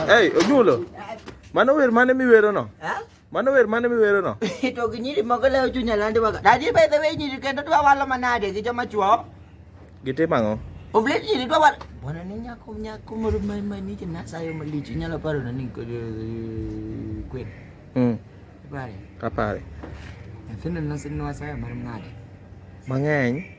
Hey, Ojulo. Mano wer mane miwero no? Ha? Mano wer mane miwero no? To gi nyiri moko lewo chunya landi waga. Dadi by the way nyiri kendo dwa walo manade gi joma chuo. Gitimo ang'o? Oblet nyiri dwa walo. Bwana ni nyako nyako moro ma ma ni na sayo malich nyalo paro na ni ko kwen. Mm. Pare. Kapare. Nyathino nosinwa sayo mar ng'ade. Mang'eny.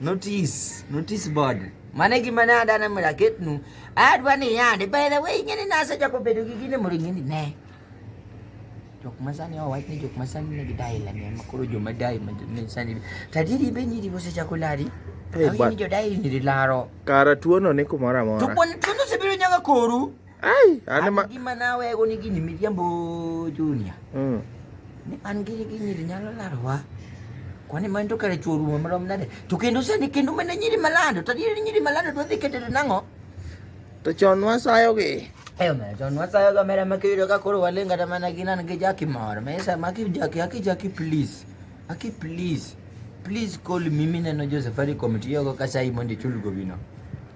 Notice, notice board. Mane gima ne adana mura ketnu. Adwa ni yande. By the way, ing'eni nasa jako bedo gi gine mura ing'eni ne. Jok masani o wach ni jok masani ne gidai la ne makoro jo madai ma ne sani. Tadiri be nyiri bose jako lari. Hey, but, ni jo dai ni laro. Kara tuono ni kumora mora. Tuono tuono se biro nyaga koru. Ai, ane ma. Gima nawe go ni gini miriambo Junior. Mm. Ni an gini gini nyalo larwa. Kwani man to kare chuo rumo marom nade? To kendo sani kendo mana nyiri malando, to nyiri nyiri malando to dhi ketere nang'o? To chon wasayo gi. Eyo me chon wasayo ga mera makiyudo ka koro walenga ta mana ginan gi jaki mor. Me sa maki jaki aki jaki please. Aki please. Please call mimi neno jo Safaricom tiyogo ka sai mondo ichul gobino.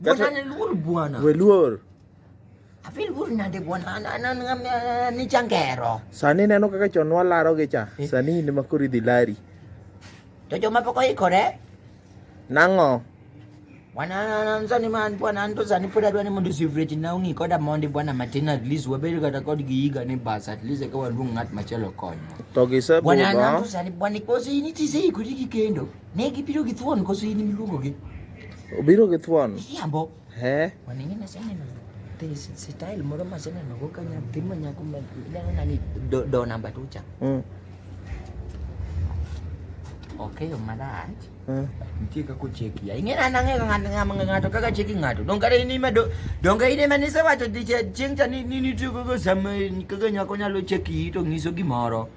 Bwana ni luor bwana. We luor. Afi luor nade bwana an ni changero. Sani neno kaka chon walaro gi cha. Eh. Sani in ma kori dhi lari. To joma pok oikore. Nang'o? Bwana an sani ma an bwana an to sani pod adwa ni mondo sivreti na ung'i koda mondi bwana matin at least wabed kata kod gi higa ni bas at least eka waluong ng'at machielo konyo. To gisebudho. Bwana an to sani bwana kosi nitise ikori gi kendo. Ne gibiro gi thuon koso in miluongo gi? Obiro gi thuon. Yambo. He. Waning'e na sene no. Te style moro ma sene no ka nya timo nyako ma neno na ni do, do namba tucha. Mm. Okay, malach. Mm. Nitie kaka ocheki. Ing'e na nang'e ka ng'ato ng'ama ng'ato kaka cheki ng'ato. Don kare ni ma do don kare ni ma ni sewacho diche chieng' cha ni ni nitie kaka sama kaka nyako nyalo cheki to nyiso gimoro.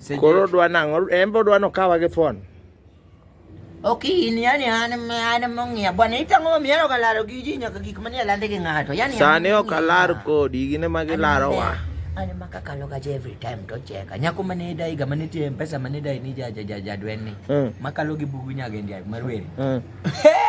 Seche- Koro odwa nang'o? En be odwa nokawa gi thuon. Ok in yani an an mong'ia bwana itang'o mi yaro kalaro gi ji nyaka gik manie lande gi ng'ato yani Sani ok alar kodi, gine ma gilaro wa. An ma kakalo ga every time to cheka. Nyako mane dai ga mane tie pesa mane dai ni ja ja ja ja dwen ni. Mm. Makalo gi bugu nyaga ndia marweri. Mm. Hey!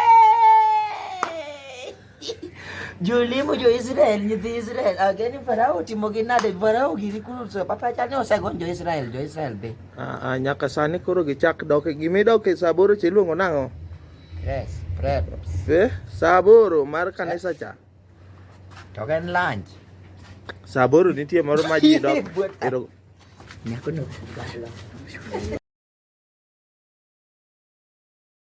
Jolimo jo-Israel, nyithi Israel, ageni Farao otimo gi nade? Farao giri kuru so papa chani osegony jo-Israel, jo-Israel be. Ah, ah, nyaka sani koro gichak dok gimidok e saa aboro cha iluongo nang'o? Yes, preps. Eh, saa aboro mar kanisa cha. To en lunch. Saa aboro nitie moro ma ji dok. Nyako no.